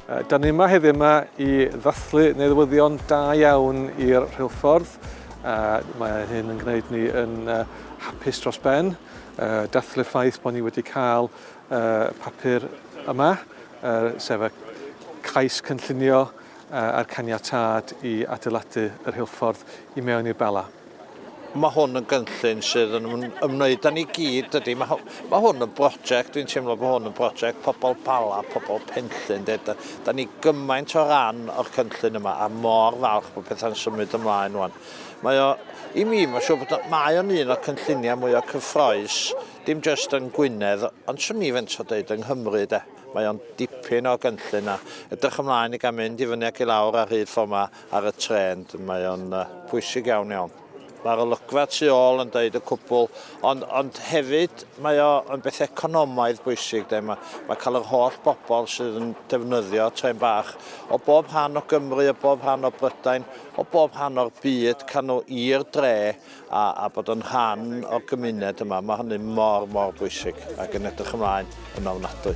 Da ni yma heddiw yma i ddathlu neddwyddion da iawn i'r rheilffordd. Uh, mae hyn yn gwneud ni yn uh, hapus dros ben. Uh, dathlu ffaith bod ni wedi cael uh, papur yma, uh, sef y cais cynllunio uh, a'r caniatad i adeiladu yr rheilffordd i mewn i'r Bela. Mae hwn yn gynllun sydd yn ymwneud â ni gyd, dydy. Mae, mae hwn yn brosiect, dwi'n teimlo bod hwn yn brosiect pobl Bala, pobl Penllyn, de. Da, da ni gymaint o ran o'r cynllun yma, a mor falch bod pethau'n symud ymlaen wan. Mae o, i mi, mae'n siŵr bod o, mae o'n un o'r cynlluniau mwy o cyffroes, dim jyst yn Gwynedd, ond swn i fent o dweud yng Nghymru, de. Mae o'n dipyn o gynllun a edrych ymlaen i gael mynd i fyny ac i lawr ar hyd ffordd yma. ar y trên, mae o'n uh, pwysig iawn iawn. Mae'r olygfa tu ôl yn deud y cwbl, ond, ond hefyd mae o yn beth economaidd bwysig. De. Mae, mae cael yr holl bobl sydd yn defnyddio tren bach o bob rhan o Gymru, o bob rhan o Brydain, o bob rhan o'r byd, cael nhw i'r dre a, a bod yn rhan o'r gymuned yma. Mae hynny mor, mor bwysig ac yn edrych ymlaen yn ofnadwy.